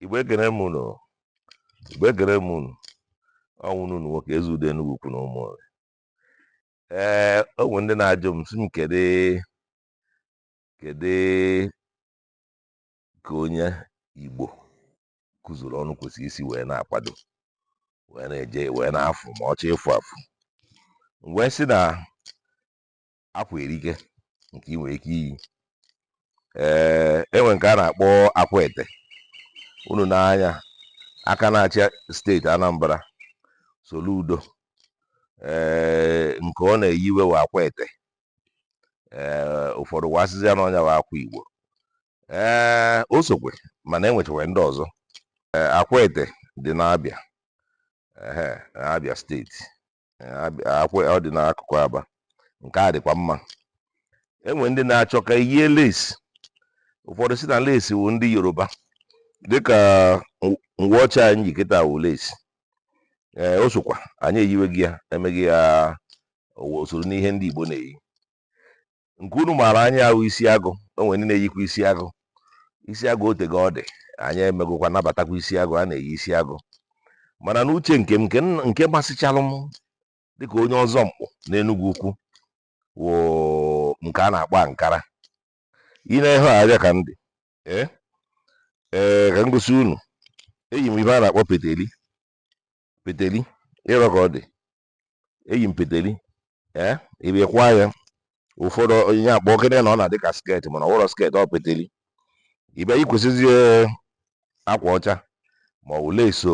Igbo ekene m unu Igbo ekene m unu ọ nwanne unu nwoke Ezeudo Enugwu Ukwu na Ụmụnri ee o nwere ndị na-ajụ m sị m kedu kedu ka onye Igbo kuzuru ọnụ kwesịrị isi wee na-akwado wee na-eje wee na-afụ ma ọ chọọ ịfụ afụ wee sị na akwa erike nke ị nwere ike iyi ee enwe nke a na-akpọ akwete unu n'anya aka na-achị steeti Anambra Soludo ee nke ọ na-eyiwe wụ akwete ee ụfọdụ wa asịzi ya na ọ nya wụ akwa Igbo ee o sokwe mana enwechakwe ndị ọzọ Akwete dị n'Abịa Abịa steeti ọ dị n'akụkụ Aba nke a dịkwa mma enwe ndị na-achọ ka eyie lace ụfọdụ sị na lace wụ ndị Yoruba dịka uwe ọcha anyị ji kịta wụ lace ee o sokwa anyị eyiwego ya emego ya o soro n'ihe ndị Igbo na-eyi nke unu maara anya wụ isi agụ o nwere ndị na-eyikwa isi agụ isi agụ otego ọ dị anyị emegokwa nabatakwa isi agụ a na-eyi isi agụ mana n'uche nke m nke m- nke masịchalụ m dịka onye ọzọ mkpụ n'Enugwu Ukwu wụ nke a na-akpọ ankara ị na-ehe abịa ka m dị ee ee ka m gosi unu eyi m ife a na-akpọ peteli peteli ịrọ ka ọ dị eyi m peteli ee ị bịa kwaa ya ụfọdụ onye akpọ okene na ọ na-adị ka sket mana ọ wụrọ sket ọ peteli ị bịa yikwasịzie akwa ọcha ma ọ bụ lace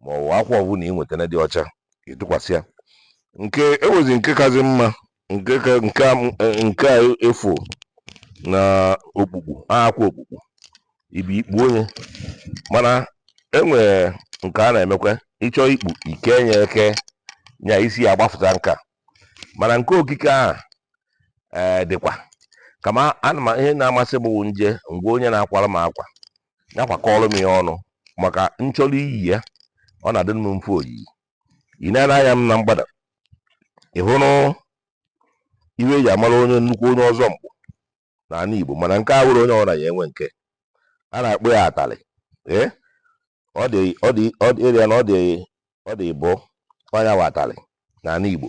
ma ọ bụ akwa ọbụla ị nwetara dị ọcha ị tụkwasị ya nke ewezi nke kazi mma nke ka nke a m- eh, nke a efu na okpukpu akwa okpukpu ị bịa i kpunye mana enwere nke a na-emekwa ị chọọ ikpu i kee nya eke nya isi ya agbafụta nka mana nke okike ahụ ee dịkwa kama ana m ihe na-amasị m bụ m je ngwa onye na-akwara m akwa ya kwakọrọ m ya ọnụ maka m chọrọ iyi ya ọ na-adị m mfe oyiyi ị na-ele anya m na mgbada ị hụrụ ihe e ji amara onye nnukwu onye ọzọ mkpụ n'ala Igbo mana nke a wụrọ onye ọbụla ya-enwe nke a na-akpọ ya atalị ee ọ dị ọ dị ọ dị ịrịa na ọ dị ọ dị ịbọ ọ nya wụ atalị n'ala Igbo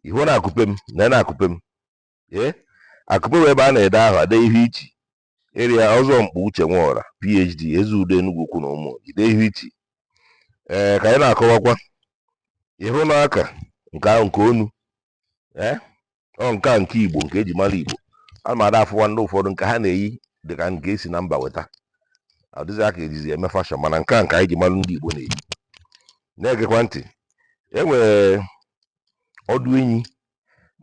ị hụ n'akupe m na n'akupe m ee akupe wụ ebe a na-ede aha e dee ihe i chi Ịrịa Ọzọnkpu Uche Nworah, PhD, Ezeudo Enugwu Ukwu na Ụmụnri, Ihu Ichi. Ee, ka anyị na-akọwakwa ịhụ n'aka nke ahụ nke onu ee ọ nke a nke Igbo nke e ji mara Igbo a ma ada afụwa ndị ụfọdụ nke ha na-eyi dị ka nke e si na mba weta ọ dịzị aka e jizi eme fashion mana nke a nke anyị ji mara ndị Igbo na-eyi na-egekwa ntị e nwere ọdụ enyi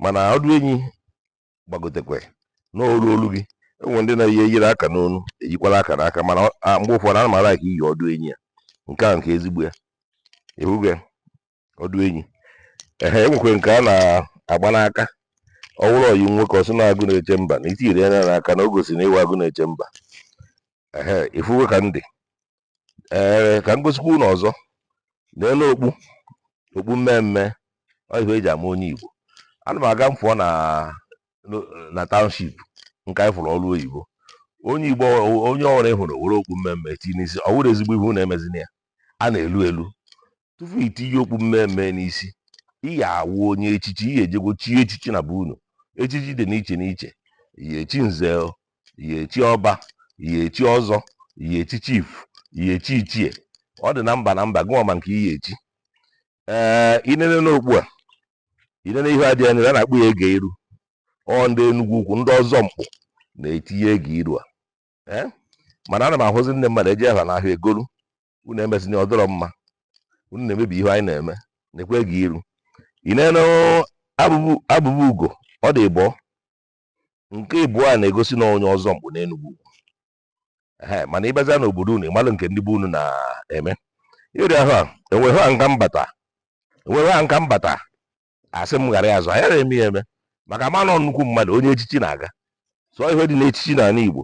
mana ọdụ enyi gbagotekwe n'olu olu gị e nwee ndị na-eyi eyiri aka n'onu eyikwala aka n'aka mana mgbe ụfọdụ ana m ala ka iyi ọdụ enyi ya nke a nke ezigbo ya ị fụgo ọdụ enyi ehe e nwekwe nke a na-agba n'aka ọ bụrụ ọyi nwoke ọ sị na agụ na-eche mba na i tinyere ya n'aka na o gosi na ị wụ agụ na-eche mba ehe ị fụgo ka m dị ee ka m gosikwa unu ọzọ n'elu okpu okpu mme mme ọ ihe e ji ama onye Igbo ana m aga m fụọ na na township nke anyị fụrụ ọrụ oyibo onye Igbo onye ọwụla ị hụrụ were okpu mme mme tinye n'isi ọ wụrọ ezigbo ihe unu emezina ya a na-elu elu tupu i tinye okpu mme mme n'isi ị ya awụ onye echichi ị ya ejego chie echichi na be unu echichi dị n'iche n'iche ị ya echi nze ị ya echi ọba ị ya echi ọzọ ị ya echi chief ị ya echi ichie ọ dị na mba na mba gịwa ma nke ị ya echi ee i nene n'okpu a i nene ihe a dị na ya a na-akpọ ya ege iru ọ ndị Enugwu Ukwu ndị Ọzọnkpu na-etinye ege iru a ee mana ana m ahụzi ndị mmadụ eje ha n'ahịa egolu unu emezina ọ dịrọ mma unu na-emebi ihe anyị na-eme nekwa ege iru i nene abụba ugo ọ dị ịbụọ nke ịbụọ a na-egosi na onye Ọzọnkpu n'Enugwu Ukwu ee mana ị bịazia n'obodo unu ị malụ nke ndị be unu na-eme ịrịa ha enweghị ha nka mbata enweghị ha nka mbata asị m ghara ya azụ anyị eme ya eme maka ma na nnukwu mmadụ onye echichi na-aga so ihe dị n'echichi n'ala Igbo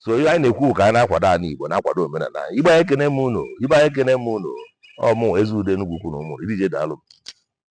so ihe anyị na-ekwu ka anyị na-akwado ala Igbo na-akwado omenala anyị ibe anyị ekene m unu ibe anyị ekene m unu ọ mụ Ezeudo Enugwu Ukwu na Ụmụnri deje daalụ